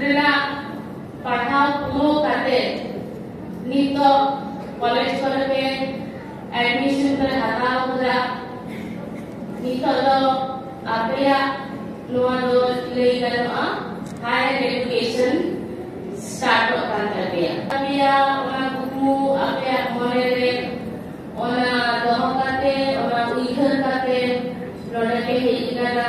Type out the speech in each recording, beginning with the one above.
ᱨᱮᱱᱟᱜ ᱯᱟᱲᱦᱟᱣ ᱯᱩᱨᱟᱹᱣ ᱠᱟᱛᱮ ᱱᱤᱛᱚᱜ ᱠᱚᱞᱮᱡᱽ ᱠᱚᱨᱮ ᱜᱮ ᱮᱰᱢᱤᱥᱚᱱ ᱯᱮ ᱦᱟᱛᱟᱣ ᱠᱮᱫᱟ ᱱᱤᱛᱚᱜ ᱫᱚ ᱟᱯᱮᱭᱟᱜ ᱱᱚᱣᱟ ᱫᱚ ᱞᱟᱹᱭ ᱜᱟᱱᱚᱜᱼᱟ ᱦᱟᱭᱟᱨ ᱮᱰᱩᱠᱮᱥᱚᱱ ᱥᱴᱟᱨᱴᱚᱜ ᱠᱟᱱ ᱛᱟᱯᱮᱭᱟ ᱟᱯᱮᱭᱟᱜ ᱚᱱᱟ ᱠᱩᱠᱢᱩ ᱟᱯᱮᱭᱟᱜ ᱢᱚᱱᱮ ᱨᱮ ᱚᱱᱟ ᱫᱚᱦᱚ ᱠᱟᱛᱮ ᱚᱱᱟ ᱩᱭᱦᱟᱹᱨ ᱠᱟᱛᱮ ᱱᱚᱰᱮ ᱯᱮ ᱦᱮᱡ ᱟᱠᱟᱱᱟ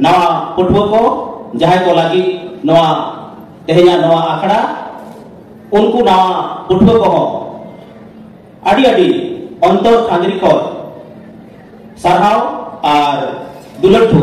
ᱱᱟᱣᱟ ᱯᱟᱹᱴᱷᱩᱣᱟᱹ ᱠᱚ ᱡᱟᱦᱟᱸᱭ ᱠᱚ ᱞᱟᱹᱜᱤᱫ ᱱᱚᱣᱟ ᱛᱮᱦᱮᱧᱟᱜ ᱱᱚᱣᱟ ᱟᱠᱷᱲᱟ ᱩᱱᱠᱩ ᱱᱟᱣᱟ ᱯᱟᱹᱴᱷᱩᱣᱟᱹ ᱠᱚᱦᱚᱸ ᱟᱹᱰᱤ ᱟᱹᱰᱤ ᱚᱱᱛᱚᱨ ᱠᱷᱟᱸᱫᱽᱨᱤ ᱠᱚ ᱥᱟᱨᱦᱟᱣ ᱟᱨ ᱫᱩᱞᱟᱹᱲ ᱴᱷᱩ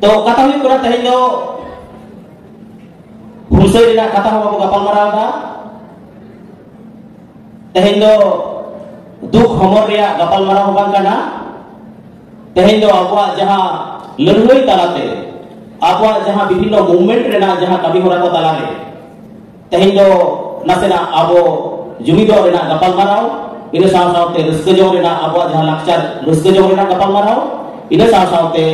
ᱛᱚ ᱠᱟᱛᱷᱟ ᱦᱩᱭᱩᱜ ᱠᱟᱱᱟ ᱛᱮᱦᱮᱧ ᱫᱚ ᱦᱩᱞᱥᱟᱹᱭ ᱨᱮᱱᱟᱜ ᱠᱟᱛᱷᱟ ᱦᱚᱸ ᱵᱟᱵᱚ ᱜᱟᱯᱟᱞ ᱢᱟᱨᱟᱣ ᱮᱫᱟ ᱛᱮᱦᱮᱧ ᱫᱚ ᱫᱩᱠ ᱦᱚᱢᱚᱨ ᱨᱮᱭᱟᱜ ᱜᱟᱯᱟᱞ ᱢᱟᱨᱟᱣ ᱦᱚᱸ ᱵᱟᱝ ᱠᱟᱱᱟ ᱛᱮᱦᱮᱧ ᱫᱚ ᱟᱵᱚᱣᱟᱜ ᱡᱟᱦᱟᱸ ᱞᱟᱹᱲᱦᱟᱹᱭ ᱛᱟᱞᱟᱛᱮ ᱟᱵᱚᱣᱟᱜ ᱡᱟᱦᱟᱸ ᱵᱤᱵᱷᱤᱱᱱᱚ ᱢᱩᱵᱷᱢᱮᱱᱴ ᱨᱮᱱᱟᱜ ᱡᱟᱦᱟᱸ ᱠᱟᱹᱢᱤ ᱦᱚᱨᱟ ᱠᱚ ᱛᱟᱞᱟᱨᱮ ᱛᱮᱦᱮᱧ ᱫᱚ ᱱᱟᱥᱮᱱᱟᱜ ᱟᱵᱚ ᱡᱩᱢᱤᱫᱚᱜ ᱨᱮᱱᱟᱜ ᱜᱟᱯᱟᱞᱢᱟᱨᱟᱣ ᱤᱱᱟᱹ ᱥᱟᱶ ᱥᱟᱶᱛᱮ ᱨᱟᱹᱥᱠᱟᱹ ᱡᱚᱝ ᱨᱮᱱᱟᱜ ᱟᱵᱚᱣᱟᱜ ᱡᱟᱦᱟᱸ ᱞᱟᱠᱪᱟᱨ ᱨᱟᱹᱥᱠᱟᱹ ᱡᱚᱝ ᱨᱮᱱᱟᱜ ᱜᱟᱯᱟᱞᱢᱟᱨᱟᱣ ᱤᱱᱟᱹ ᱥᱟᱶ ᱥᱟᱶᱛᱮ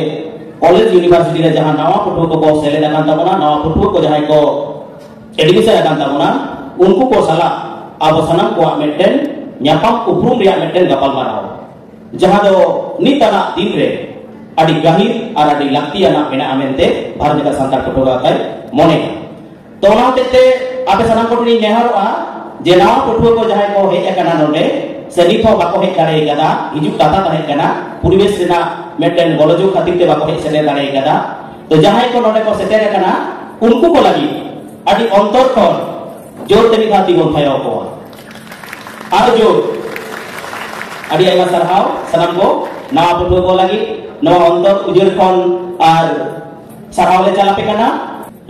ᱠᱚᱞᱮᱡᱽ ᱭᱩᱱᱤᱵᱷᱟᱨᱥᱤᱴᱤ ᱨᱮ ᱡᱟᱦᱟᱸ ᱱᱟᱣᱟ ᱯᱟᱹᱴᱷᱩᱣᱟᱹ ᱠᱚᱠᱚ ᱥᱮᱞᱮᱫ ᱟᱠᱟᱱ ᱛᱟᱵᱚᱱᱟ ᱱᱟᱣᱟ ᱯᱟᱹᱴᱷᱩᱣᱟᱹ ᱠᱚ ᱡᱟᱦᱟᱸᱭ ᱠᱚ ᱮᱰᱢᱤᱥᱚᱱ ᱟᱠᱟᱱ ᱛᱟᱵᱚᱱᱟ ᱩᱱᱠᱩ ᱠᱚ ᱥᱟᱞᱟᱜ ᱟᱵᱚ ᱥᱟᱱᱟᱢ ᱠᱚᱣᱟᱜ ᱢᱤᱫᱴᱮᱱ ᱧᱟᱯᱟᱢ ᱩᱯᱨᱩᱢ ᱨᱮᱭᱟᱜ ᱢᱤᱫᱴᱮᱱ ᱜᱟᱯᱟᱞᱢᱟᱨᱟᱣ ᱡᱟᱦᱟᱸ ᱫᱚ ᱱᱤᱛ ᱟᱱᱟᱜ ᱫᱤᱱ ᱨᱮ ᱟᱹᱰᱤ ᱜᱟᱹᱦᱤᱨ ᱟᱨ ᱟᱹᱰᱤ ᱞᱟᱹᱠᱛᱤᱭᱟᱱᱟᱜ ᱢᱮᱱᱟᱜᱼᱟ ᱢᱮᱱᱛᱮ ᱵᱷᱟᱨᱚᱛ ᱞᱮᱠᱟ ᱥᱟᱱᱛᱟᱲ ᱯᱟᱹᱴᱷᱩᱣᱟᱹ ᱜᱟᱶᱛᱟᱭ ᱢᱚᱱᱮᱭᱟ ᱛᱚ ᱚᱱᱟ ᱦᱚᱛᱮᱡ ᱛᱮ ᱟᱯᱮ ᱥᱟᱱᱟᱢ ᱠᱚᱴᱷᱮᱱ ᱤᱧ ᱱᱮᱦᱚᱨᱚᱜᱼᱟ ᱡᱮ ᱱᱟᱣᱟ ᱯᱟᱹᱴᱷᱩᱣᱟᱹ ᱠᱚ ᱡᱟᱦᱟᱸᱭ ᱠᱚ ᱦᱮᱡ ᱟᱠᱟᱱᱟ ᱱᱚᱰᱮ ᱥᱮ ᱱᱤᱛ ᱦᱚᱸ ᱵᱟᱠᱚ ᱦᱮᱡ ᱫᱟᱲᱮ ᱟᱠᱟᱫᱟ ᱦᱤᱡᱩᱜ ᱠᱟᱛᱷᱟ ᱛᱟᱦᱮᱸ ᱠᱟᱱᱟ ᱯᱚᱨᱤᱵᱮᱥ ᱨᱮᱱᱟᱜ ᱢᱤᱫᱴᱮᱱ ᱜᱚᱞᱚᱡᱚᱜ ᱠᱷᱟᱹᱛᱤᱨ ᱛᱮ ᱵᱟᱠᱚ ᱦᱮᱡ ᱥᱮᱴᱮᱨ ᱫᱟᱲᱮ ᱟᱠᱟᱫᱟ ᱛᱚ ᱡᱟᱦᱟᱸᱭ ᱠᱚ ᱱᱚᱰᱮ ᱠᱚ ᱥᱮᱴᱮᱨ ᱟᱠᱟᱱᱟ ᱩᱱᱠᱩ ᱠᱚ ᱞᱟᱹᱜᱤᱫ ᱟᱹᱰᱤ ᱚᱱᱛᱚᱨ ᱠᱷᱚᱱ ᱡᱳᱨ ᱛᱮ ᱢᱤᱫ ᱫᱷᱟᱣ ᱛᱤ ᱵᱚᱱ ᱛᱷᱟᱭᱚ ᱟᱠᱚᱣᱟ ᱟᱨ ᱡᱳᱨ ᱟᱹᱰᱤ ᱟᱭᱢᱟ ᱥᱟᱨᱦᱟᱣ ᱥᱟᱱᱟᱢ ᱠᱚ ᱱᱟᱣᱟ ᱯᱟᱹᱴᱷᱩᱣᱟᱹ ᱠᱚ ᱞᱟᱹᱜᱤᱫ ᱱᱚᱣᱟ ᱚᱱᱛᱚᱨ ᱩᱡᱟᱹᱨ ᱠᱷᱚᱱ ᱟᱨ ᱥᱟᱨᱦᱟᱣ ᱞᱮ ᱪᱟᱞ ᱟᱯᱮ ᱠᱟᱱᱟ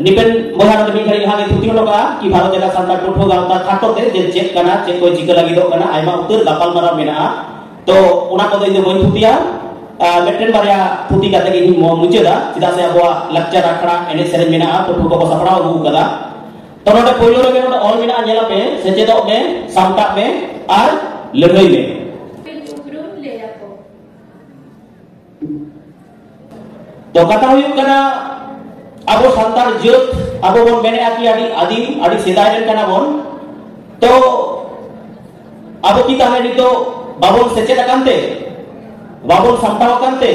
ᱱᱤᱵᱮᱱ ᱵᱚᱭᱦᱟ ᱱᱚᱰᱮ ᱢᱤᱫ ᱜᱷᱟᱹᱲᱤᱡ ᱞᱟᱦᱟ ᱜᱮ ᱛᱷᱩᱛᱤ ᱦᱚᱴᱚ ᱠᱟᱜᱼᱟ ᱠᱤ ᱵᱷᱟᱨᱚᱛ ᱡᱟᱠᱟᱛ ᱥᱟᱱᱛᱟᱲ ᱯᱟᱹᱴᱷᱩᱣᱟᱹ ᱜᱟᱶᱛᱟ ᱠᱷᱟᱴᱚ ᱛᱮ ᱡᱮ ᱪᱮᱫ ᱠᱟᱱᱟ ᱪᱮᱫ ᱠᱚ ᱪᱤᱠᱟᱹ ᱞᱟᱹᱜᱤᱫᱚᱜ ᱠᱟᱱᱟ ᱟᱭᱢᱟ ᱩᱛᱟᱹᱨ ᱜᱟᱯᱟᱞ ᱢᱟᱨᱟᱣ ᱢᱮᱱᱟᱜᱼᱟ ᱛᱚ ᱚᱱᱟ ᱠᱚᱫᱚ ᱤᱧ ᱫᱚ ᱵᱟᱹᱧ ᱛᱷᱩᱛᱤᱭᱟ ᱢᱤᱫᱴᱮᱱ ᱵᱟᱨᱭᱟ ᱛᱷᱩᱛᱤ ᱠᱟᱛᱮ ᱜᱮ ᱤᱧ ᱢᱩᱪᱟᱹᱫᱟ ᱪᱮᱫᱟᱜ ᱥᱮ ᱟᱵᱚᱣᱟᱜ ᱞᱟᱠᱪᱟᱨ ᱟᱠᱷᱲᱟ ᱮᱱᱮᱡ ᱥᱮᱨᱮᱧ ᱢᱮᱱᱟᱜᱼᱟ ᱯᱟᱹᱴᱷᱩᱣᱟᱹ ᱠᱚᱠᱚ ᱥᱟᱯᱲᱟᱣ ᱟᱹᱜᱩ ᱠᱟᱫᱟ ᱛᱚ ᱱᱚᱰᱮ ᱯᱳᱭᱞᱳ ᱨᱮᱜᱮ ᱱᱚᱰᱮ ᱚᱞ ᱢᱮᱱᱟᱜᱼᱟ ᱧᱮᱞ ᱟᱯᱮ ᱥᱮᱪᱮᱫᱚᱜ ᱢᱮ ᱥᱟᱢᱴᱟᱜ ᱢᱮ ᱟᱨ ᱞᱟᱹᱲᱦᱟᱹᱭ ᱢᱮ ᱛᱚ ᱠᱟᱛᱷᱟ ᱦᱩᱭᱩᱜ ᱠᱟᱱᱟ ᱟᱵᱚ ᱥᱟᱱᱛᱟᱲ ᱡᱟᱹᱛ ᱟᱵᱚ ᱵᱚᱱ ᱢᱮᱱᱮᱜᱼᱟ ᱠᱤ ᱟᱹᱰᱤ ᱟᱹᱫᱤᱢ ᱟᱹᱰᱤ ᱥᱮᱫᱟᱭ ᱨᱮᱱ ᱠᱟᱱᱟ ᱵᱚᱱ ᱛᱚ ᱟᱵᱚ ᱠᱤ ᱛᱟᱦᱞᱮ ᱱᱤᱛᱚᱜ ᱵᱟᱵᱚᱱ ᱥᱮᱪᱮᱫ ᱟᱠᱟᱱ ᱛᱮ ᱵᱟᱵᱚᱱ ᱥᱟᱢᱴᱟᱣ ᱟᱠᱟᱱ ᱛᱮ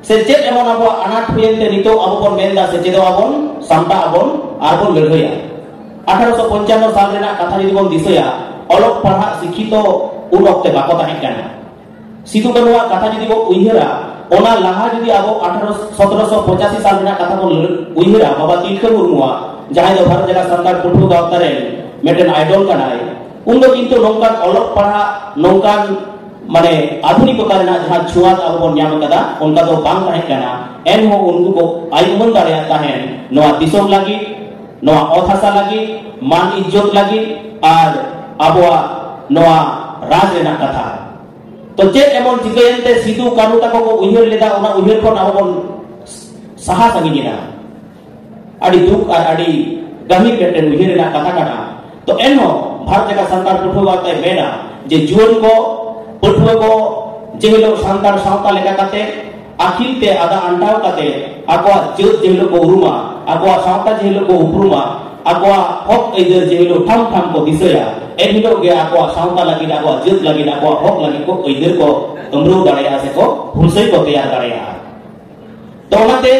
ᱥᱮᱪᱮᱫ ᱮᱢᱚᱱ ᱟᱵᱚᱣᱟᱜ ᱟᱱᱟᱴ ᱦᱩᱭᱮᱱ ᱛᱮ ᱱᱤᱛᱚᱜ ᱟᱵᱚ ᱵᱚᱱ ᱢᱮᱱᱫᱟ ᱥᱮᱪᱮᱫᱚᱜ ᱟᱵᱚᱱ ᱥᱟᱢᱴᱟᱜ ᱟᱵᱚᱱ ᱟᱨ ᱵᱚᱱ ᱞᱟᱹᱲᱦᱟᱹᱭᱟ ᱟᱴᱷᱟᱨᱚᱥᱚ ᱯᱚᱧᱪᱟᱱᱱᱚ ᱥᱟᱞ ᱨᱮᱱᱟᱜ ᱠᱟᱛᱷᱟ ᱡᱩᱫᱤ ᱵᱚᱱ ᱫᱤᱥᱟᱹᱭᱟ ᱚᱞᱚᱜ ᱯᱟᱲᱦᱟᱜ ᱥᱤᱠᱠᱷᱤᱛᱚ ᱩᱱ ᱚᱠᱛᱮ ᱵᱟᱠᱚ ᱛᱟᱦᱮᱸ ᱠᱟᱱᱟ ᱥᱤᱫᱩ ᱠᱟᱹᱱᱩᱣᱟᱜ ᱠᱟᱛᱷᱟ ᱡᱩᱫᱤ ᱵᱚ ᱩᱭᱦᱟᱹᱨᱟ ᱚᱱᱟ ᱞᱟᱦᱟ ᱡᱩᱫᱤ ᱟᱵᱚ 1785 ᱥᱟᱞ ᱨᱮᱱᱟᱜ ᱠᱟᱛᱷᱟ ᱵᱚ ᱩᱭᱦᱟᱹᱨᱟ ᱵᱟᱵᱟ ᱛᱤᱞᱠᱟᱹ ᱢᱩᱨᱢᱩᱣᱟᱜ ᱡᱟᱦᱟᱸᱭ ᱫᱚ ᱵᱷᱟᱨᱚᱛ ᱡᱟᱠᱟᱛ ᱥᱟᱱᱛᱟᱲ ᱯᱟᱹᱴᱷᱩᱣᱟᱹ ᱜᱟᱶᱛᱟ ᱨᱮᱱ ᱢᱤᱫᱴᱮᱱ ᱟᱭᱰᱚᱞ ᱠᱟᱱᱟᱭ ᱩᱱ ᱫᱚ ᱠᱤᱱᱛᱩ ᱱᱚᱝᱠᱟᱱ ᱚᱞᱚᱜ ᱯᱟᱲᱦᱟᱜ ᱱᱚᱝᱠᱟᱱ ᱢᱟᱱᱮ ᱟᱫᱷᱩᱱᱤᱠᱚᱛᱟ ᱨᱮᱱᱟᱜ ᱡᱟᱦᱟᱸ ᱪᱷᱩᱣᱟᱛ ᱟᱵᱚ ᱵᱚᱱ ᱧᱟᱢ ᱟᱠᱟᱫᱟ ᱚᱱᱠᱟ ᱫᱚ ᱵᱟᱝ ᱛᱟᱦᱮᱸ ᱠᱟᱱᱟ ᱮᱱᱦᱚᱸ ᱩᱱᱠᱩ ᱠᱚ ᱟᱭᱩᱢᱟᱹᱱ ᱫᱟᱲᱮᱭᱟᱜ ᱛᱟᱦᱮᱸᱱ ᱱᱚᱣᱟ ᱫᱤᱥᱚᱢ ᱞᱟᱹᱜᱤᱫ ᱱᱚᱣᱟ ᱚᱛ ᱦᱟᱥᱟ ᱞᱟᱹᱜᱤᱫ ᱢᱟᱱ ᱤᱡᱽᱡᱚᱛ ᱞᱟᱹᱜᱤᱫ ᱟᱨ ᱟᱵᱚᱣᱟᱜ ᱱᱚᱣᱟ ᱨᱟᱡᱽ ᱨᱮᱱᱟᱜ ᱠᱟᱛᱷᱟ ᱛᱚ ᱪᱮᱫ ᱮᱢᱚᱱ ᱪᱤᱠᱟᱹᱭᱮᱱ ᱛᱮ ᱥᱤᱫᱩ ᱠᱟᱹᱱᱩ ᱛᱟᱠᱚ ᱠᱚ ᱩᱭᱦᱟᱹᱨ ᱞᱮᱫᱟ ᱚᱱᱟ ᱩᱭᱦᱟᱹᱨ ᱠᱷᱚᱱ ᱟᱵᱚ ᱵᱚᱱ ᱥᱟᱦᱟ ᱥᱟᱺᱜᱤᱧ ᱮᱱᱟ ᱟᱹᱰᱤ ᱫᱩᱠ ᱟᱨ ᱟᱹᱰᱤ ᱜᱟᱹᱦᱤᱨ ᱢᱤᱫᱴᱮᱱ ᱩᱭᱦᱟᱹᱨ ᱨᱮᱱᱟᱜ ᱠᱟᱛᱷᱟ ᱠᱟᱱᱟ ᱛᱚ ᱮᱱᱦᱚᱸ ᱵᱷᱟᱨᱚᱛ ᱞᱮᱠᱟ ᱥᱟᱱᱛᱟᱲ ᱯᱟᱹᱴᱷᱩᱣᱟᱹ ᱜᱟᱶᱛᱟᱭ ᱢᱮᱱᱟ ᱡᱮ ᱡᱩᱣᱟᱹᱱ ᱠᱚ ᱯᱟᱹᱴᱷᱩᱣᱟᱹ ᱠᱚ ᱡᱮ ᱦᱤᱞᱳᱜ ᱥᱟᱱᱛᱟᱲ ᱥᱟᱶᱛᱟ ᱞᱮᱠᱟ ᱠᱟᱛᱮ ᱟᱹᱠᱷᱤᱞ ᱛᱮ ᱟᱫᱟ ᱟᱱᱴᱟᱣ ᱠᱟᱛᱮ ᱟᱠᱚᱣᱟᱜ ᱡᱟᱹᱛ ᱡᱮ ᱦᱤᱞᱳᱜ ᱠᱚ ᱩᱨᱩᱢᱟ ᱟᱠᱚᱣᱟᱜ ᱥᱟᱶᱛᱟ ᱡᱮ ᱦᱤᱞᱳᱜ ᱠᱚ ᱩᱯᱨᱩᱢᱟ ᱟᱠᱚᱣᱟᱜ ᱦᱚᱠ ᱟᱹᱭᱫᱟᱹᱨ ᱡᱮ ᱦᱤᱞᱳᱜ ᱴᱷᱟᱢ ᱴᱷᱟᱢ ᱠᱚ ᱫᱤᱥᱟᱹᱭᱟ ᱮᱱ ᱦᱤᱞᱳᱜ ᱜᱮ ᱟᱠᱚᱣᱟᱜ ᱥᱟᱶᱛᱟ ᱞᱟᱹᱜᱤᱫ ᱟᱠᱚᱣᱟᱜ ᱡᱟᱹᱛ ᱞᱟᱹᱜᱤᱫ ᱟᱠᱚᱣᱟᱜ ᱦᱚᱠ ᱞᱟᱹᱜᱤᱫ ᱠᱚ ᱟᱹᱭᱫᱟᱹᱨ ᱠᱚ ᱟᱹᱢᱨᱟᱹᱣ ᱫᱟᱲᱮᱭᱟᱜᱼᱟ ᱥᱮᱠᱚ ᱦᱩᱞᱥᱟᱹᱭ ᱠᱚ ᱛᱮᱭᱟᱨ ᱫᱟᱲᱮᱭᱟᱜᱼᱟ ᱛᱚ ᱚᱱᱟᱛᱮ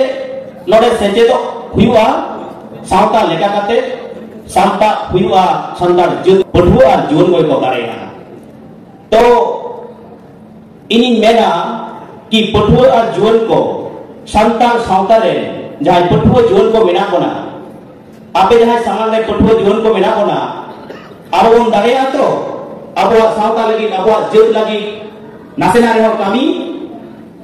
ᱱᱚᱰᱮ ᱥᱮᱪᱮᱫᱚᱜ ᱦᱩᱭᱩᱜᱼᱟ ᱥᱟᱶᱛᱟ ᱞᱮᱠᱟ ᱠᱟᱛᱮ ᱥᱟᱶᱛᱟ ᱦᱩᱭᱩᱜᱼᱟ ᱥᱟᱱᱛᱟᱲ ᱡᱟᱹᱛ ᱯᱟᱹᱴᱷᱩᱣᱟᱹ ᱟᱨ ᱡᱩᱣᱟᱹᱱ ᱠᱚ ᱠᱚ ᱫᱟᱲᱮᱭᱟᱜᱼᱟ ᱛᱚ ᱤᱧᱤᱧ ᱢᱮᱱᱟ ᱠᱤ ᱯᱟᱹᱴᱷᱩᱣᱟᱹ ᱟᱨ ᱡᱩᱣᱟᱹᱱ ᱠᱚ ᱥᱟᱱᱛᱟᱲ ᱥᱟᱶᱛᱟ ᱨᱮ ᱡᱟᱦᱟᱸᱭ ᱯᱟᱹᱴᱷᱩᱣᱟᱹ ᱡᱩᱣᱟᱹᱱ ᱠᱚ ᱢᱮᱱᱟᱜ ᱵᱚᱱᱟ ᱟᱯᱮ ᱡᱟᱦᱟᱸᱭ ᱥᱟᱢᱟᱝ ᱨᱮ ᱯᱟᱹᱴᱷᱩᱣᱟᱹ ᱡᱩᱣᱟᱹᱱ ᱠᱚ ᱢᱮᱱᱟᱜ ᱵᱚᱱᱟ ᱟᱨ ᱵᱚᱱ ᱫᱟᱲᱮᱭᱟᱜᱼᱟ ᱛᱚ ᱟᱵᱚᱣᱟᱜ ᱥᱟᱶᱛᱟ ᱞᱟᱹᱜᱤᱫ ᱟᱵᱚᱣᱟᱜ ᱡᱟᱹᱛ ᱞᱟᱹᱜᱤᱫ ᱱᱟᱥᱮᱱᱟᱜ ᱨᱮᱦᱚᱸ ᱠᱟᱹᱢᱤ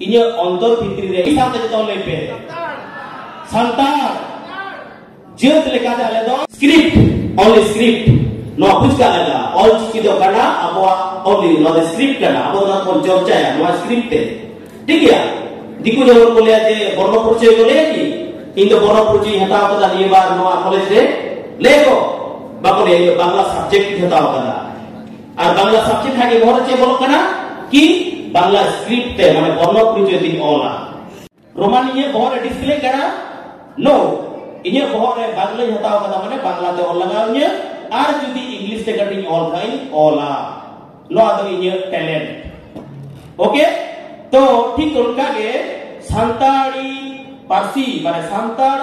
ᱤᱧᱟᱹᱜ ᱚᱱᱛᱚᱨ ᱵᱷᱤᱛᱨᱤ ᱨᱮ ᱢᱤᱫ ᱥᱟᱶᱛᱮ ᱡᱚᱛᱚ ᱞᱟᱹᱭ ᱯᱮ ᱥᱟᱱᱛᱟᱲ ᱡᱟᱹᱛ ᱞᱮᱠᱟᱛᱮ ᱟᱞᱮ ᱫᱚ ᱥᱠᱨᱤᱯᱴ ᱚᱱᱞᱤ ᱥᱠᱨᱤᱯᱴ ᱱᱚᱣᱟ ᱵᱩᱡᱽ ᱠᱟᱜ ᱞᱟᱜᱟᱜᱼᱟ ᱚᱞ ᱪᱤᱠᱤ ᱫᱚ ᱠᱟᱱᱟ ᱟᱵᱚᱣᱟᱜ ᱚᱱᱞᱤ ᱱᱚᱣᱟ ᱫᱚ ᱥᱠᱨᱤᱯᱴ ᱠᱟᱱᱟ ᱟᱵᱚ ᱚᱱᱟ ᱵᱚᱱ ᱪᱚᱨᱪᱟᱭᱟ ᱱᱚᱣᱟ ᱥᱠᱨᱤᱯᱴ ᱛᱮ ᱴᱷᱤᱠ ᱜᱮᱭᱟ ᱫᱤᱠᱩ ᱡᱮᱢᱚᱱ ᱠᱚ ᱞᱟᱹᱭᱟ ᱡᱮ ᱵᱚᱨণ ᱯᱚᱨᱤᱪᱚᱭ ᱠᱚ ᱞᱟᱹᱭᱟ ᱠᱤ ᱤᱧ ᱫᱚ ᱵᱚᱨণ ᱯᱚᱨᱤᱪᱚᱭ ᱦᱟᱛᱟᱣ ᱠᱟᱫᱟ ᱱᱤᱭᱟᱹ ᱵᱟᱨ ᱱᱚᱣᱟ ᱠᱚᱞᱮᱡᱽ ᱨᱮ ᱞᱟᱹᱭ ᱠᱚ ᱵᱟᱠᱚ ᱞᱟᱹᱭᱟ ᱵᱟᱝᱞᱟ ᱥᱟᱵᱡᱮᱠᱴ ᱦᱟᱛᱟᱣ ᱠᱟᱫᱟ ᱟᱨ ᱵᱟᱝᱞᱟ ᱥᱟᱵᱡᱮᱠᱴ ᱦᱟᱜᱮ ᱵᱚᱦᱚᱨ ᱪᱮ ᱵᱚᱞᱚᱜ ᱠᱟᱱᱟ ᱠᱤ ᱵᱟᱝᱞᱟ ᱥᱠᱨᱤᱯᱴ ᱛᱮ ᱢᱟᱱᱮ ᱵᱚᱨᱱᱚ ᱯᱚᱨᱤᱪᱚᱭ ᱛᱤᱧ ᱚᱞᱟ ᱨᱳᱢᱟᱱ ᱤᱧᱟᱹᱜ ᱵᱚᱦᱚᱨ ᱨᱮ ᱰᱤᱥᱯᱞᱮ ᱠᱟᱱᱟ ᱱᱳ ᱤᱧᱟᱹᱜ ᱵᱚᱦᱚᱨ ᱨᱮ ᱵᱟᱝᱞᱟᱧ ᱦᱟᱛᱟᱣ ᱠᱟᱫᱟ ᱢᱟᱱᱮ ᱵᱟᱝᱞᱟ ᱛᱮ ᱚᱞ ᱞᱟᱜᱟᱣ ᱤᱧᱟᱹ ᱟᱨ ᱡᱩᱫᱤ ᱤᱝᱞᱤᱥ ᱛᱮ ᱠᱟᱹᱴᱤᱧ ᱚᱞ ᱠᱷᱟᱱ ᱚᱞᱟ ᱱᱚᱣᱟ ᱫᱚ ᱤᱧᱟᱹᱜ ᱴᱮᱞᱮᱱᱴ ᱳᱠᱮ ᱛᱚ ᱴᱷᱤᱠ ᱚᱱᱠᱟ ᱜᱮ ᱥᱟᱱᱛᱟᱲᱤ ᱯᱟᱹᱨᱥᱤ ᱢᱟᱱᱮ ᱥᱟᱱᱛᱟᱲ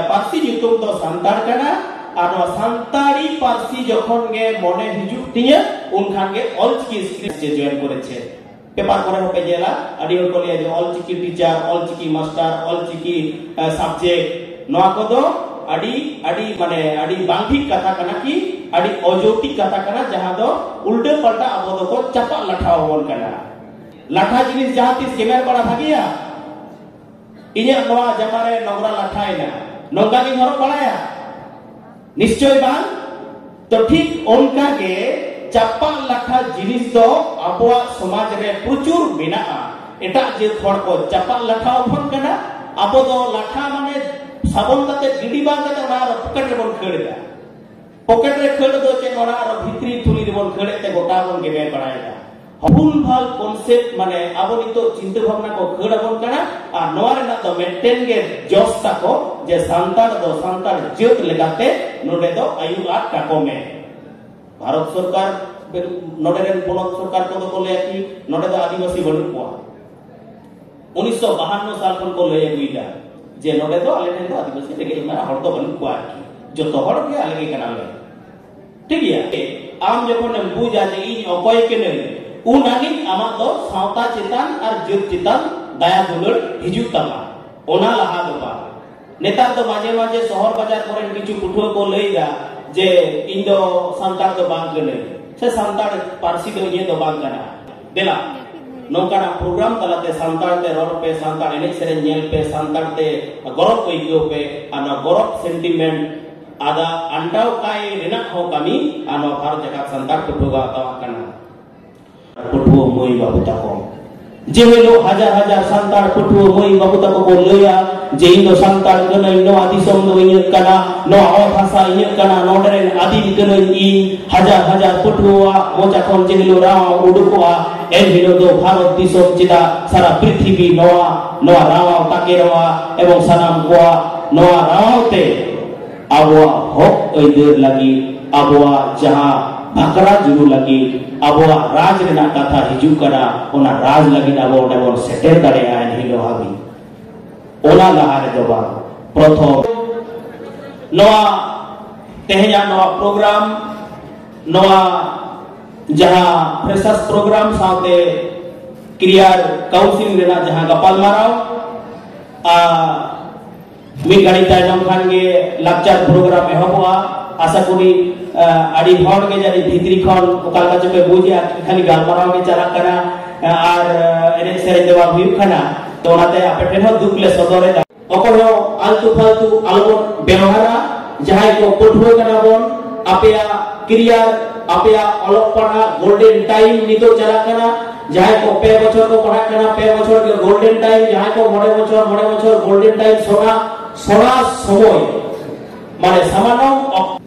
ᱯᱟᱹᱨᱥᱤ ᱧᱩᱛᱩᱢ ᱫᱚ ᱥᱟᱱᱛᱟᱲ ᱠᱟᱱᱟ ᱟᱨ ᱱᱚᱣᱟ ᱥᱟᱱᱛᱟᱲᱤ ᱯᱟᱹᱨᱥᱤ ᱡᱚᱠᱷᱚᱱ ᱜᱮ ᱢᱚᱱᱮ ᱦᱤᱡᱩᱜ ᱛᱤᱧᱟᱹ ᱩᱱᱠᱷᱟᱱ ᱜᱮ ᱚᱞᱪᱤᱠᱤ ᱥᱠᱨᱤᱯᱴ ᱡᱮ ᱡᱚᱭᱮᱱ ᱠᱚᱨᱮᱪᱮ ᱯᱮᱯᱟᱨ ᱠᱚᱨᱮ ᱦᱚᱸ ᱯᱮ ᱧᱮᱞᱟ ᱟᱹᱰᱤ ᱦᱚᱲ ᱠᱚ ᱞᱟᱹᱭᱟ ᱡᱮ Ol Chiki teacher Ol Chiki master Ol Chiki subject ᱱᱚᱣᱟ ᱠᱚᱫᱚ ᱟᱹᱰᱤ ᱟᱹᱰᱤ ᱢᱟᱱᱮ ᱟᱹᱰᱤ ᱵᱟᱝ ᱴᱷᱤᱠ ᱠᱟᱛᱷᱟ ᱠᱟᱱᱟ ᱠᱤ ᱟᱹᱰᱤ ᱚᱡᱚᱴᱤ ᱠᱟᱛᱷᱟ ᱠᱟᱱᱟ ᱡᱟᱦᱟᱸ ᱫᱚ ᱩᱞᱴᱟᱹ ᱯᱟᱞᱴᱟ ᱟᱵᱚ ᱫᱚᱠᱚ ᱪᱟᱯᱟᱜ ᱞᱟᱴᱷᱟ ᱟᱵᱚᱱ ᱠᱟᱱᱟ ᱞᱟᱴᱷᱟ ᱡᱤᱱᱤᱥ ᱡᱟᱦᱟᱸ ᱛᱤᱥ ᱜᱮᱢᱮᱨ ᱵᱟᱲᱟ ᱵᱷᱟᱜᱮᱭᱟ ᱤᱧᱟᱹᱜ ᱱᱚᱣᱟ ᱡᱟᱢᱟ ᱨᱮ ᱱᱚᱝᱨᱟ ᱞᱟᱴᱷᱟᱭᱮᱱᱟ ᱱᱚᱝᱠᱟ ᱜᱤᱧ ᱦᱚᱨᱚᱜ ᱵᱟᱲᱟᱭᱟ ᱱᱤᱥᱪᱚᱭ ᱵᱟᱝ ᱛᱚ ᱴᱷᱤᱠ ᱚᱱᱠᱟ ᱜᱮ ᱪᱟᱯᱟ ᱞᱟᱴᱷᱟ ᱡᱤᱱᱤᱥ ᱫᱚ ᱟᱵᱚᱣᱟᱜ ᱥᱚᱢᱟᱡᱽ ᱨᱮ ᱯᱨᱚᱪᱩᱨ ᱢᱮᱱᱟᱜᱼᱟ ᱮᱴᱟᱜ ᱡᱟᱹᱛ ᱦᱚᱲ ᱠᱚ ᱪᱟᱯᱟ ᱞᱟᱴᱷᱟ ᱚᱯᱷᱚᱱ ᱠᱟᱱᱟ ᱟᱵᱚ ᱫᱚ ᱞᱟᱴᱷᱟ ᱢᱟᱱᱮ ᱥᱟᱵᱚᱱ ᱠᱟᱛᱮ ᱜᱤᱰᱤ ᱵᱟᱝ ᱠᱟᱛᱮ ᱚᱱᱟ ᱟᱨᱚ ᱯᱚᱠᱮᱴ ᱨᱮᱵᱚᱱ ᱠᱷᱟᱹᱲ ᱮᱫᱟ ᱯᱚᱠᱮᱴ ᱨᱮ ᱠᱷᱟᱹᱲ ᱫᱚ ᱪᱮᱫ ᱚᱱᱟ ᱟᱨᱚ ᱵᱷᱤᱛᱨᱤ ᱛᱷᱩᱞᱤ ᱨᱮᱵᱚᱱ ᱠᱷᱟᱹᱲ ᱮᱫ ᱛᱮ ᱜᱚᱴᱟ ᱵᱚᱱ ᱜᱮᱢᱮᱨ ᱵᱟᱲᱟᱭᱮᱫᱟ ᱵᱷᱩᱞ ᱵᱷᱟᱞ ᱠᱚᱱᱥᱮᱯᱴ ᱢᱟᱱᱮ ᱟᱵᱚ ᱱᱤᱛᱚᱜ ᱪᱤᱱᱛᱟᱹ ᱵᱷᱟᱵᱱᱟ ᱠᱚ ᱠᱷᱟᱹᱲ ᱟᱵᱚᱱ ᱠᱟᱱᱟ ᱟᱨ ᱱᱚᱣᱟ ᱨᱮᱱᱟᱜ ᱫᱚ ᱢᱤᱫᱴᱮᱱ ᱜᱮ ᱡᱚᱥ ᱛᱟᱠᱚ ᱡᱮ ᱥᱟᱱᱛᱟᱲ ᱫᱚ ᱥᱟᱱᱛᱟᱲ ᱡᱟᱹᱛ ᱞᱮᱠᱟᱛᱮ ᱱᱚᱰᱮ ᱫᱚ ᱟᱭᱩ ᱟᱨ ᱴᱟᱠᱚ ᱢᱮ ᱵᱷᱟᱨᱚᱛ ᱥᱚᱨᱠᱟᱨ ᱱᱚᱰᱮ ᱨᱮᱱ ᱯᱚᱱᱚᱛ ᱥᱚᱨᱠᱟᱨ ᱠᱚᱫᱚ ᱠᱚ ᱞᱟᱹᱭᱟ ᱠᱤ ᱱᱚᱰᱮ ᱫᱚ ᱟᱹᱫᱤᱵᱟᱹᱥᱤ ᱵᱟᱹᱱᱩᱜ ᱠᱚᱣᱟ ᱩᱱᱤᱥᱥᱚ ᱵᱟᱦᱟᱱᱱᱚ ᱥᱟᱞ ᱠᱷᱚᱱ ᱠᱚ ᱞᱟᱹᱭ ᱟᱹᱜᱩᱭᱮᱫᱟ ᱡᱮ ᱱᱚᱰᱮ ᱫᱚ ᱟᱞᱮ ᱴᱷᱮᱱ ᱫᱚ ᱟᱹᱫᱤᱵᱟᱹᱥᱤ ᱨᱮᱸᱜᱮᱡ ᱢᱮᱱᱟᱜ ᱦᱚᱲ ᱫᱚ ᱵᱟᱹᱱᱩᱜ ᱠᱚᱣᱟ ᱟᱨᱠᱤ ᱡᱚᱛᱚ ᱦᱚᱲ ᱜᱮ ᱟᱞᱮ ᱜᱮ ᱠᱟᱱᱟᱞᱮ ᱴᱷᱤᱠ ᱜᱮᱭᱟ ᱟᱢ ᱡᱚᱠᱷᱚᱱ ᱮᱢ ᱵᱩᱡᱟ ᱡᱮ ᱤᱧ ᱚᱠᱚᱭ ᱠᱟᱹᱱᱟᱹᱧ ᱩᱱ ᱟᱹᱱᱤᱡ ᱟᱢᱟᱜ ᱫᱚ ᱥᱟᱶᱛᱟ ᱪᱮᱛᱟᱱ ᱟᱨ ᱡᱟᱹᱛ ᱪᱮᱛᱟᱱ ᱫᱟᱭᱟ ᱫᱩᱞᱟᱹᱲ ᱦᱤᱡᱩᱜ ᱛᱟᱢᱟ ᱚᱱᱟ ᱞᱟᱦᱟ ᱫᱚ ᱵᱟᱝ ᱱᱮᱛᱟᱨ ᱫᱚ ᱢᱟᱡᱷᱮ ᱢᱟᱡᱷᱮ ᱥᱚᱦᱚᱨ ᱵᱟᱡᱟᱨ ᱠᱚᱨᱮᱱ ᱠᱤᱪᱷᱩ ᱯᱟᱹᱴᱷᱩᱣᱟᱹ ᱠᱚ ᱞᱟᱹᱭᱫᱟ ᱡᱮ ᱤᱧ ᱫᱚ ᱥᱟᱱᱛᱟᱲ ᱫᱚ ᱵᱟᱝ ᱠᱟᱹᱱᱟᱹᱧ ᱥᱮ ᱥᱟᱱᱛᱟᱲ ᱯᱟᱹᱨᱥᱤ ᱫᱚ ᱤᱧᱟᱹᱜ ᱫᱚ ᱵᱟᱝ ᱠᱟᱱᱟ ᱫᱮᱞᱟ ᱱᱚᱝᱠᱟᱱᱟᱜ ᱯᱨᱳᱜᱨᱟᱢ ᱛᱟᱞᱟᱛᱮ ᱥᱟᱱᱛᱟᱲ ᱛᱮ ᱨᱚᱲ ᱯᱮ ᱥᱟᱱᱛᱟᱲ ᱮᱱᱮᱡ ᱥᱮᱨᱮᱧ ᱧᱮᱞ ᱯᱮ ᱥᱟᱱᱛᱟᱲ ᱛᱮ ᱜᱚᱨᱚᱵ ᱟᱹᱭᱠᱟᱹᱣ ᱯᱮ ᱟᱨ ᱱᱚᱣᱟ ᱜᱚᱨᱚᱵ ᱥᱮᱱᱴᱤᱢᱮᱱᱴ ᱟᱫᱚ ᱟᱱᱰᱟᱣ ᱠᱟᱭ ᱨᱮᱱᱟᱜ ᱦᱚᱸ ᱠᱟᱹᱢᱤ ᱟᱨ ᱱᱚᱣᱟ ᱵᱷᱟᱨᱚᱛ ᱡᱟᱠᱟᱛ ᱥᱟᱱᱛᱟᱲ ᱯᱟᱹᱴᱷᱩᱣᱟᱹ ᱠᱚ ᱦᱟᱛᱟᱣᱟᱜ ᱠᱟᱱᱟ ᱯᱟᱹᱴᱷᱩᱣᱟᱹ ᱢᱟᱹᱭ ᱵᱟᱹᱵᱩ ᱛᱟᱠᱚ ᱡᱮ ᱦᱤᱞᱳᱜ ᱦᱟᱡᱟᱨ ᱦᱟᱡᱟᱨ ᱥᱟᱱᱛᱟᱲ ᱯᱟᱹᱴᱷᱩᱣᱟᱹ ᱢᱟᱹᱭ ᱵᱟᱹᱵᱩ ᱛᱟᱠᱚ ᱠᱚ ᱞᱟᱹᱭᱟ ᱡᱮ ᱤᱧ ᱫᱚ ᱥᱟᱱᱛᱟᱲ ᱠᱟᱹᱱᱟᱹᱧ ᱱᱚᱣᱟ ᱫᱤᱥᱚᱢ ᱫᱚ ᱤᱧᱟᱹᱜ ᱠᱟᱱᱟ ᱱᱚᱣᱟ ᱚᱛ ᱦᱟᱥᱟ ᱤᱧᱟᱹᱜ ᱠᱟᱱᱟ ᱱᱚᱰᱮ ᱨᱮᱱ ᱟᱹᱫᱤᱢ ᱠᱟᱹᱱᱟᱹᱧ ᱤᱧ ᱦᱟᱡᱟᱨ ᱦᱟᱡᱟᱨ ᱯᱟᱹᱴᱷᱩᱣᱟᱹ ᱢᱚᱪᱟ ᱠᱷᱚᱱ ᱡᱮ ᱦᱤᱞᱳᱜ ᱨᱟᱣ ᱩᱰᱩᱠᱚᱜᱼᱟ ᱮᱱ ᱦᱤᱞᱳᱜ ᱫᱚ ᱵᱷᱟᱨᱚᱛ ᱫᱤᱥᱚᱢ ᱪᱮᱫᱟᱜ ᱥᱟᱨᱟ ᱯᱨᱤᱛᱷᱤᱵᱤ ᱱᱚᱣᱟ ᱱᱚᱣᱟ ᱨᱟᱣᱟᱣ ᱛᱟᱠᱮ ᱨᱟᱣᱟ ᱮᱵᱚᱝ ᱥᱟᱱᱟᱢ ᱠᱚᱣᱟ ᱱᱚᱣᱟ ᱨᱟᱣᱟᱣ ᱛᱮ ᱟᱵᱚᱣᱟᱜ ᱦᱚᱠ ᱟᱹᱭᱫᱟᱹᱨ ᱞᱟᱹᱜᱤᱫ ᱟᱵᱚᱣᱟᱜ ᱡᱟᱦᱟᱸ ᱵᱷᱟᱠᱨᱟ ᱡᱩᱨᱩ ᱞᱟᱹᱜᱤᱫ ᱟᱵᱚᱣᱟᱜ ᱨᱟᱡᱽ ᱨᱮᱱᱟᱜ ᱠᱟᱛᱷᱟ ᱦᱤᱡᱩᱜ ᱠᱟᱱᱟ ᱚᱱᱟ ᱨᱟᱡᱽ ᱞᱟᱹᱜᱤᱫ ᱟᱵᱚ ᱚᱸᱰᱮ ᱵᱚᱱ ᱥᱮᱴᱮᱨ ᱫᱟᱲᱮᱭᱟᱜᱼᱟ ᱮᱱᱦᱤᱞᱳᱜ ᱦᱟᱹᱵᱤᱡ ᱚᱱᱟ ᱞᱟᱦᱟ ᱨᱮᱫᱚ ᱵᱟᱝ ᱯᱨᱚᱛᱷᱚᱢ ᱱᱚᱣᱟ ᱛᱮᱦᱮᱧᱟᱜ ᱱᱚᱣᱟ ᱯᱨᱳᱜᱨᱟᱢ ᱱᱚᱣᱟ ᱡᱟᱦᱟᱸ ᱯᱷᱨᱮᱥᱟᱨᱥ ᱯᱨᱳᱜᱨᱟᱢ ᱥᱟᱶᱛᱮ ᱠᱨᱤᱭᱟᱨ ᱠᱟᱣᱩᱱᱥᱤᱞ ᱨᱮᱱᱟᱜ ᱡᱟᱦᱟᱸ ᱜᱟᱯᱟᱞᱢᱟᱨᱟᱣ ᱟᱨ ᱢᱤᱫ ᱜᱷᱟᱹᱲᱤ ᱛᱟᱭᱱᱚᱢ ᱠᱷᱟᱱ ᱜᱮ ᱞᱟᱠᱪᱟᱨ ᱯᱨᱳᱜᱨᱟᱢ ᱮᱦᱚᱵᱚᱜᱼᱟ ᱟᱥᱟ ᱠᱚᱨᱤ ᱟᱹᱰᱤ ᱦᱚᱲ ᱜᱮ ᱡᱟᱹᱱᱤᱡ ᱵᱷᱤᱛᱨᱤ ᱠᱷᱚᱱ ᱚᱠᱟ ᱞᱮᱠᱟ ᱪᱚᱯᱮ ᱵᱩᱡᱮᱜᱼᱟ ᱠᱷᱟᱹᱞᱤ ᱜᱟᱞᱢᱟᱨᱟᱣ ᱜᱮ ᱪᱟᱞᱟᱜ ᱠᱟᱱᱟ ᱟᱨ ᱮᱱᱮᱡ ᱥᱮᱨᱮᱧ ᱫᱚ ᱵᱟᱝ ᱦᱩᱭᱩᱜ ᱠᱟᱱᱟ ᱛᱚ ᱚᱱᱟᱛᱮ ᱟᱯᱮ ᱴᱷᱮᱱ ᱦᱚᱸ ᱫᱩᱠ ᱞᱮ ᱥᱚᱫᱚᱨᱮᱫᱟ ᱚᱠᱚᱭ ᱦᱚᱸ ᱟᱞᱛᱩ ᱯᱷᱟᱞᱛᱩ ᱟᱞᱚᱵᱚᱱ ᱵᱮᱣᱦᱟᱨᱟ ᱡᱟᱦᱟᱸᱭ ᱠᱚ ᱯᱟᱹᱴᱷᱩᱣᱟᱹ ᱠᱟᱱᱟ ᱵᱚᱱ ᱟᱯᱮᱭᱟᱜ ᱠᱮᱨᱤᱭᱟᱨ ᱟᱯᱮᱭᱟᱜ ᱚᱞᱚᱜ ᱯᱟᱲᱦᱟᱜ ᱜᱳᱞᱰᱮᱱ ᱴᱟᱭᱤᱢ ᱱᱤᱛᱚᱜ ᱪᱟᱞᱟᱜ ᱠᱟᱱᱟ ᱡᱟᱦᱟᱸᱭ ᱠᱚ ᱯᱮ ᱵᱚᱪᱷᱚᱨ ᱠᱚ ᱯᱟᱲᱦᱟᱜ ᱠᱟᱱᱟ ᱯᱮ ᱵᱚᱪᱷᱚᱨ ᱜᱮ ᱜᱳᱞᱰᱮᱱ ᱴᱟᱭᱤᱢ ᱡᱟᱦᱟᱸᱭ ᱠᱚ ᱢᱚᱬᱮ ᱵᱚᱪᱷᱚᱨ ᱢᱚᱬᱮ ᱵᱚᱪᱷᱚᱨ ᱜᱳᱞᱰᱮᱱ ᱴᱟᱭᱤᱢ ᱥᱚᱱᱟ ᱥᱚᱱᱟ ᱥᱚᱢᱚᱭ ᱢᱟᱱᱮ ᱥᱟᱢᱟᱱᱚᱢ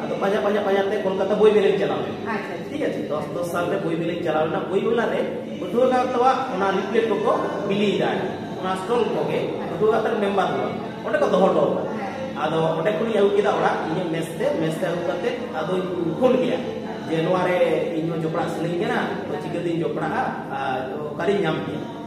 ᱟᱫᱚ ᱯᱟᱸᱡᱟ ᱯᱟᱸᱡᱟ ᱯᱟᱸᱡᱟ ᱛᱮ ᱠᱳᱞᱠᱟᱛᱟ ᱵᱳᱭ ᱢᱮᱞᱮᱧ ᱪᱟᱞᱟᱣ ᱞᱮᱱᱟ ᱴᱷᱤᱠ ᱟᱪᱷᱮ ᱫᱚᱥ ᱫᱚᱥ ᱥᱟᱞ ᱨᱮ ᱵᱳᱭ ᱢᱮᱞᱮᱧ ᱪᱟᱞᱟᱣ ᱞᱮᱱᱟ ᱵᱳᱭ ᱢᱮᱞᱟ ᱨᱮ ᱯᱟᱹᱴᱷᱩᱣᱟᱹ ᱜᱟᱶᱛᱟ ᱚᱱᱟ ᱞᱤᱯᱞᱮᱴ ᱠᱚᱠᱚ ᱵᱤᱞᱤᱭᱮᱫᱟ ᱚᱱᱟ ᱥᱴᱚᱞ ᱠᱚᱜᱮ ᱯᱟᱹᱴᱷᱩᱣᱟᱹ ᱜᱟᱶᱛᱟ ᱨᱮ ᱢᱮᱢᱵᱟᱨ ᱠᱚ ᱚᱸᱰᱮ ᱠᱚ ᱫᱚᱦᱚ ᱦᱚᱴᱚ ᱟᱫᱚ ᱚᱸᱰᱮ ᱠᱷᱚᱱᱤᱧ ᱟᱹᱜᱩ ᱠᱮᱫᱟ ᱚᱲᱟᱜ ᱤᱧᱟᱹᱜ ᱢᱮᱥ ᱛᱮ ᱢᱮᱥ ᱛᱮ ᱟᱹᱜᱩ ᱠᱟᱛᱮ ᱟᱫᱚᱧ ᱯᱷᱳᱱ ᱠᱮᱫᱟ ᱡᱮ ᱱᱚᱣᱟ ᱨᱮ ᱤᱧ ᱦᱚᱸ ᱡᱚᱯᱲᱟᱜ ᱥᱟᱱᱟᱧ ᱠᱟᱱᱟ ᱛᱚ ᱪᱤᱠᱟᱹᱛᱤᱧ ᱡᱚᱯᱲᱟᱜᱼᱟ ᱟᱨ ᱚᱠᱟᱨᱤᱧ ᱧᱟᱢ ᱠᱮᱭᱟ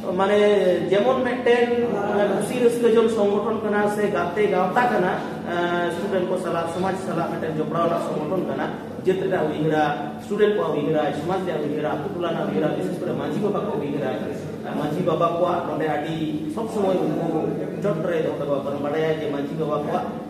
ᱢᱟᱱᱮ ᱡᱮᱢᱚᱱ ᱢᱤᱫᱴᱮᱱ ᱠᱩᱥᱤ ᱨᱟᱹᱥᱠᱟᱹ ᱡᱚᱝ ᱥᱚᱝᱜᱚᱴᱷᱚᱱ ᱠᱟᱱᱟ ᱥᱮ ᱜᱟᱛᱮ ᱜᱟᱶᱛᱟ ᱠᱟᱱᱟ ᱥᱴᱩᱰᱮᱱᱴ ᱠᱚ ᱥᱟᱞᱟᱜ ᱥᱚᱢᱟᱡᱽ ᱥᱟᱞᱟᱜ ᱢᱤᱫᱴᱮᱱ ᱡᱚᱯᱲᱟᱣ ᱨᱮᱱᱟᱜ ᱥᱚᱝᱜᱚᱴᱷᱚᱱ ᱠᱟᱱᱟ ᱡᱟᱹᱛ ᱨᱮᱱᱟᱜ ᱩᱭᱦᱟᱹᱨᱟ ᱥᱴᱩᱰᱮᱱᱴ ᱠᱚᱣᱟᱜ ᱩᱭᱦᱟᱹᱨᱟ ᱥᱚᱢᱟᱡᱽ ᱨᱮᱭᱟᱜ ᱩᱭᱦᱟᱹᱨᱟ ᱟᱛᱳ ᱴᱚᱞᱟ ᱨᱮᱱᱟᱜ ᱩᱭᱦᱟᱹᱨᱟ ᱵᱤᱥᱮᱥ ᱠᱚᱨᱮ ᱢᱟᱹᱡᱷᱤ ᱵᱟᱵᱟ ᱠᱚ ᱩᱭᱦᱟᱹᱨᱟ ᱢᱟᱹᱡᱷᱤ ᱵᱟᱵᱟ ᱠᱚᱣᱟᱜ ᱱᱚᱰᱮ ᱟᱹᱰᱤ ᱥᱚᱵ ᱥᱚᱢᱚᱭ ᱩᱱᱠᱩ ᱪᱚᱴ ᱨᱮ ᱫᱚᱦᱚ ᱠᱟᱠᱚᱣᱟ ᱵᱟᱲᱟᱭᱟ ᱡᱮ ᱢᱟᱹᱡᱷᱤ ᱵᱟᱵᱟ ᱠᱚᱣᱟᱜ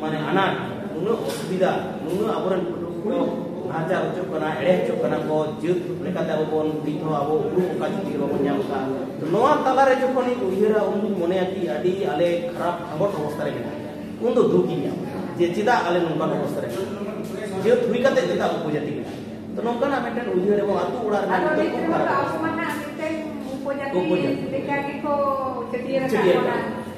ᱢᱟᱱᱮ ᱟᱱᱟᱴ ᱱᱩᱱᱟᱹᱜ ᱚᱥᱩᱵᱤᱫᱷᱟ ᱱᱩᱱᱟᱹᱜ ᱟᱵᱚᱨᱮᱱ ᱯᱟᱹᱴᱷᱩᱣᱟᱹ ᱠᱚ ᱱᱟᱦᱟᱪᱟᱨ ᱦᱚᱪᱚᱜ ᱠᱟᱱᱟ ᱮᱲᱮ ᱦᱚᱪᱚᱜ ᱠᱟᱱᱟ ᱠᱚ ᱡᱟᱹᱛ ᱞᱮᱠᱟᱛᱮ ᱟᱵᱚ ᱵᱚᱱ ᱱᱤᱛ ᱦᱚᱸ ᱟᱵᱚ ᱩᱯᱨᱩᱢ ᱚᱠᱟ ᱪᱷᱩᱴᱤ ᱵᱟᱵᱚᱱ ᱧᱟᱢ ᱠᱟᱜᱼᱟ ᱱᱚᱣᱟ ᱛᱟᱞᱟᱨᱮ ᱡᱚᱠᱷᱚᱱᱤᱧ ᱩᱭᱦᱟᱹᱨᱟ ᱩᱱᱫᱩᱧ ᱢᱚᱱᱮᱭᱟ ᱠᱤ ᱟᱹᱰᱤ ᱟᱞᱮ ᱠᱷᱟᱨᱟᱯ ᱟᱸᱜᱚᱴ ᱚᱵᱚᱥᱛᱟ ᱨᱮ ᱢᱮᱱᱟᱜ ᱞᱮᱭᱟ ᱩᱱ ᱫᱚ ᱫᱩᱠ ᱤᱧ ᱧᱟᱢᱟ ᱡᱮ ᱪᱮᱫᱟᱜ ᱟᱞᱮ ᱱᱚᱝᱠᱟᱱ ᱚᱵᱚᱥᱛᱟ ᱨᱮ ᱡᱟᱹᱛ ᱦᱩᱭ ᱠᱟᱛᱮ ᱪᱮᱫᱟᱜ ᱩᱯᱚᱡᱟᱹᱛᱤ ᱢᱮᱱᱟᱜ ᱞᱮᱭᱟ ᱛᱚ ᱱᱚᱝᱠᱟᱱᱟᱜ ᱢᱤᱫᱴᱮᱱ ᱩᱭᱦᱟᱹᱨ ᱮᱵᱚᱝ ᱟᱛᱳ ᱚᱲᱟᱜ ᱨᱮᱱᱟᱜ ᱱᱤᱛᱚᱜ ᱠᱷᱩᱵ ᱠᱷᱟᱨᱟᱯ ᱩᱯᱚᱡᱟᱹᱛᱤ ᱞᱮᱠᱟ ᱜᱮᱠᱚ ᱪᱷᱟᱹᱴᱭᱟᱹᱨ ᱟᱠᱟᱫ ᱵᱚᱱᱟ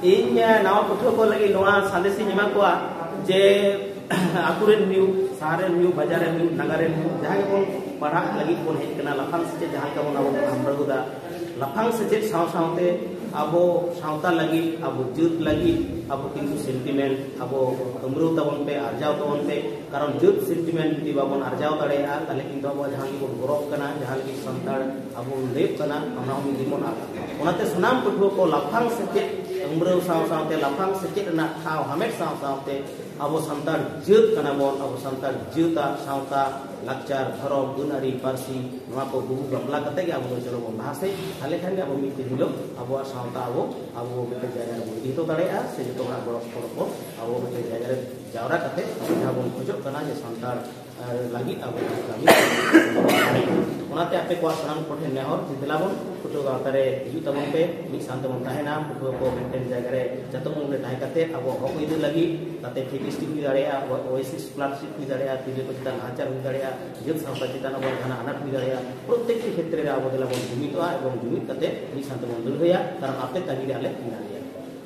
ᱤᱧ ᱱᱟᱣᱟ ᱯᱟᱹᱴᱷᱩᱣᱟᱹ ᱠᱚ ᱞᱟᱹᱜᱤᱫ ᱱᱚᱣᱟ ᱥᱟᱸᱫᱮᱥ ᱤᱧ ᱮᱢᱟ ᱠᱚᱣᱟ ᱡᱮ ᱟᱛᱳ ᱨᱮᱱ ᱦᱩᱭᱩᱜ ᱥᱟᱦᱟᱨ ᱨᱮᱱ ᱦᱩᱭᱩᱜ ᱵᱟᱡᱟᱨ ᱨᱮᱱ ᱦᱩᱭᱩᱜ ᱱᱟᱜᱟᱨ ᱨᱮᱱ ᱦᱩᱭᱩᱜ ᱡᱟᱦᱟᱸ ᱜᱮᱵᱚᱱ ᱯᱟᱲᱦᱟᱜ ᱞᱟᱹᱜᱤᱫ ᱵᱚᱱ ᱦᱮᱡ ᱠᱟᱱᱟ ᱞᱟᱯᱷᱟᱝ ᱥᱮᱪᱮᱫ ᱡᱟᱦᱟᱸ ᱞᱮᱠᱟ ᱵᱚᱱ ᱟᱵᱚ ᱵᱚᱱ ᱦᱟᱢᱲᱟᱹᱣ ᱮᱫᱟ ᱞᱟᱯᱷᱟᱝ ᱥᱮᱪᱮᱫ ᱥᱟᱶ ᱥᱟᱶᱛᱮ ᱟᱵᱚ ᱥᱟᱶᱛᱟ ᱞᱟᱹᱜᱤᱫ ᱟᱵᱚ ᱡᱟᱹᱛ ᱞᱟᱹᱜᱤᱫ ᱟᱵᱚ ᱠᱤᱱᱛᱩ ᱥᱮᱱᱴᱤᱢᱮᱱᱴ ᱟᱵᱚ ᱦᱟᱢᱲᱟᱹᱣ ᱛᱟᱵᱚᱱ ᱯᱮ ᱟᱨᱡᱟᱣ ᱛᱟᱵᱚᱱ ᱯᱮ ᱠᱟᱨᱚᱱ ᱡᱟᱹᱛ ᱥᱮᱱᱴᱤᱢᱮᱱᱴ ᱡᱩᱫᱤ ᱵᱟᱵᱚᱱ ᱟᱨᱡᱟᱣ ᱫᱟᱲᱮᱭᱟᱜᱼᱟ ᱛᱟᱦᱞᱮ ᱠᱤᱱᱛᱩ ᱟᱵᱚ ᱡᱟᱦᱟᱸ ᱜᱮᱵᱚᱱ ᱜᱚᱨᱚᱵ ᱠᱟᱱᱟ ᱡᱟᱦᱟᱸ ᱞᱟᱹᱜᱤᱫ ᱥᱟᱱᱛᱟᱲ ᱟᱵᱚ ᱞᱟᱹᱭᱚᱜ ᱠᱟᱱᱟ ᱚᱱᱟ ᱦᱚᱸ ᱡᱮᱢᱚᱱ ᱟᱫ ᱚᱱᱟᱛᱮ ᱥᱟᱱᱟᱢ ᱯᱟᱹᱴᱷᱩᱣᱟᱹ ᱠᱚ ᱞᱟᱯᱷᱟᱝ ᱥᱮᱪᱮᱫ ᱩᱢᱨᱟᱹᱣ ᱥᱟᱶ ᱥᱟᱶᱛᱮ ᱞᱟᱯᱷᱟᱝ ᱥᱮᱪᱮᱫ ᱨᱮᱱᱟᱜ ᱴᱷᱟᱶ ᱦᱟᱢᱮᱴ ᱥᱟᱶ ᱥᱟᱶᱛᱮ ᱟᱵᱚ ᱥᱟᱱᱛᱟᱲ ᱡᱟᱹᱛ ᱠᱟᱱᱟ ᱵᱚᱱ ᱟᱵᱚ ᱥᱟᱱᱛᱟᱲ ᱡᱟᱹᱛᱟᱜ ᱥᱟᱶᱛᱟ ᱞᱟᱠᱪᱟᱨ ᱫᱷᱚᱨᱚᱢ ᱟᱹᱱᱟᱹᱨᱤ ᱯᱟᱹᱨᱥᱤ ᱱᱚᱣᱟ ᱠᱚ ᱜᱩᱜᱩ ᱜᱟᱢᱞᱟ ᱠᱟᱛᱮ ᱜᱮ ᱟᱵᱚ ᱫᱚ ᱪᱚᱞᱚ ᱵᱚᱱ ᱞᱟᱦᱟ ᱥᱮᱫ ᱛᱟᱦᱞᱮ ᱠᱷᱟᱱ ᱜᱮ ᱟᱵᱚ ᱢᱤᱫ ᱫᱤᱱ ᱦᱤᱞᱳᱜ ᱟᱵᱚᱣᱟᱜ ᱥᱟᱶᱛᱟ ᱟᱵᱚ ᱟᱵᱚ ᱢᱤᱫᱴᱮᱱ ᱡᱟᱭᱜᱟ ᱨᱮᱵᱚᱱ ᱤᱫᱤ ᱦᱚᱴᱚ ᱫᱟᱲᱮᱭᱟᱜᱼᱟ ᱥᱮ ᱡᱚᱛᱚ ᱦᱚᱲᱟᱜ ᱜᱚᱲᱚ ᱥᱚᱯᱚᱦᱚᱫ ᱵᱚᱱ ᱟᱵᱚ ᱢᱤᱫᱴᱮᱱ ᱡᱟᱭᱜᱟ ᱨᱮ ᱡᱟᱣᱨᱟ ᱠᱟᱛᱮ ᱡᱟᱦᱟᱸ ᱵᱚᱱ ᱠᱷᱚᱡᱚᱜ ᱠᱟᱱᱟ ᱡᱮ ᱥᱟᱱᱛᱟᱲ ᱟᱨ ᱞᱟᱹᱜᱤᱫ ᱟᱵᱚ ᱠᱟᱹᱢᱤ ᱚᱱᱟᱛᱮ ᱟᱯᱮ ᱠᱚᱣᱟᱜ ᱥᱟᱱᱟᱢ ᱠᱚᱴᱷᱮᱱ ᱱᱮᱦᱚᱨ ᱡᱮ ᱫᱮᱞᱟ ᱵᱚᱱ ᱯᱟᱹᱴᱷᱩᱣᱟᱹ ᱜᱟᱶᱛᱟ ᱨᱮ ᱦᱤᱡᱩᱜ ᱛᱟᱵᱚᱱ ᱯᱮ ᱢᱤᱫ ᱥᱟᱶᱛᱮ ᱵᱚᱱ ᱛᱟᱦᱮᱱᱟ ᱯᱟᱹᱴᱷᱩᱣᱟᱹ ᱠᱚ ᱢᱤᱫᱴᱮᱱ ᱡᱟᱭᱜᱟ ᱨᱮ ᱡᱚᱛᱚ ᱢᱩᱞ ᱨᱮ ᱛᱟᱦᱮᱸ ᱠᱟᱛᱮ ᱟᱵᱚ ᱦᱚᱠ ᱟᱹᱭᱫᱟᱹᱨ ᱞᱟᱹᱜᱤᱫ ᱛᱟᱛᱮ ᱯᱷᱤᱴᱤᱥᱴᱤ ᱦᱩᱭ ᱫᱟᱲᱮᱭᱟᱜᱼᱟ ᱟᱵᱚᱣᱟᱜ ᱳᱭᱮᱥᱤ ᱥᱠᱚᱞᱟᱨᱥᱤᱯ ᱦᱩᱭ ᱫᱟᱲᱮᱭᱟᱜᱼᱟ ᱛᱤᱨᱞᱟᱹ ᱠᱚ ᱪᱮᱛᱟᱱ ᱱᱟᱦᱟᱪᱟᱨ ᱦᱩᱭ ᱫᱟᱲᱮᱭᱟᱜᱼᱟ ᱡᱟᱹᱛ ᱥᱟᱶᱛᱟ ᱪᱮᱛᱟᱱ ᱟᱵᱚᱣᱟᱜ ᱡᱟᱦᱟᱱᱟᱜ ᱟᱱᱟᱴ ᱦᱩᱭ ᱫᱟᱲᱮᱭᱟᱜᱼᱟ ᱯᱨᱚᱛᱮᱠᱴᱤ ᱠᱷᱮᱛᱨᱮ ᱨᱮ ᱟᱵᱚ ᱫᱮᱞᱟ ᱵᱚᱱ ᱡᱩᱢᱤᱫᱚᱜᱼᱟ ᱮᱵᱚᱝ ᱡᱩᱢᱤᱫ ᱠᱟᱛᱮ ᱢᱤᱫ ᱥᱟᱶᱛᱮ ᱵᱚᱱ ᱞᱟᱹᱲᱦᱟᱹᱭᱟ ᱠᱟᱨᱚᱱ ᱟᱯᱮ ᱛᱟᱹᱜᱤ ᱨᱮ ᱟᱞᱮ ᱢᱮᱱᱟᱜ ᱞᱮᱭᱟ